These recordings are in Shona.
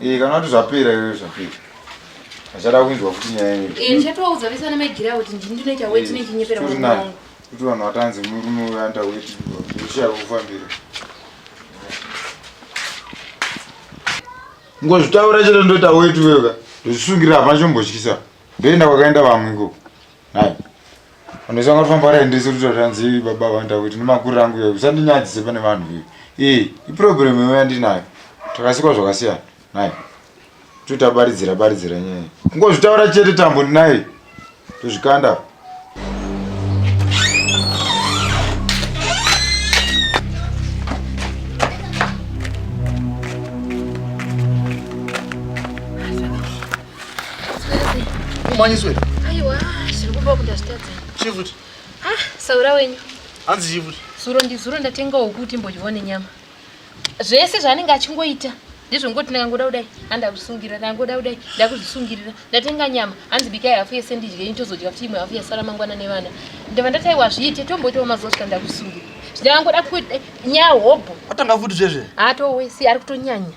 Eh, kana kuti zvapera iwe zvapera achada kuinzwa kuti nyaya kuti vanhu vatanzi murume uyo anoita weti zvichaya kufambira ngozvitaura chete ndoita weti uyoka ndozvisungira hapana chombotyisa ndoenda kwakaenda vamwe ikoko Hai. Anoisa ngati famba rende siri tozvanzi baba vanda kuti nemakurira angu iwe usandinyadzise pane vanhu iwe. Eh, iproblem iwe yandinayo. Takasikwa zvakasiyana. Hai. Tuta baridzira baridzira nyaya. Kungozvitaura chete tambo ndinaye. Tozvikanda. Kumanyiswe. Aiwa, zviri kumba kuti ndazvitadza. Chifuti. Ah, saura wenyu. Hanzi chifuti. Zuro ndizuro ndatenga wokuti mbodyone nyama. Zvese zvaanenge achingoita ndizvo ngoti ndakangoda kudai andakusungirira ndakangoda kudai ndakuzvisungirira ndatenga nyama hanzi bikai hafu yese ndidye ini tozodya futi imwe hafu yasara mangwana nevana ndava ndataiwa zviite tomboitawo mazuva svika ndakusungirira zvindakangoda kuti nyaya hobho atanga futi zvezve haatowe si ari kutonyanya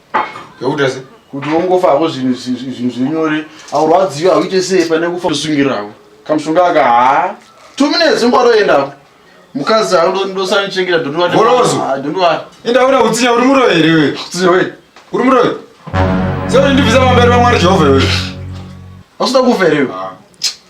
Yakuita se? Kuti wongofavo zvinhu zvinhu zvinyore aurwadziwa auite sei pane kufa kusungiravo kamushonga aka haa two minutes ngwaroendavo mukadzi ndosanichengeta dondowadondowa enda una kutsinya uri muroyi here iwe kutsinya we uri muroyi sekuti ndibvisa pamberi pamwari jehovha iwe ausuda kufa here iwe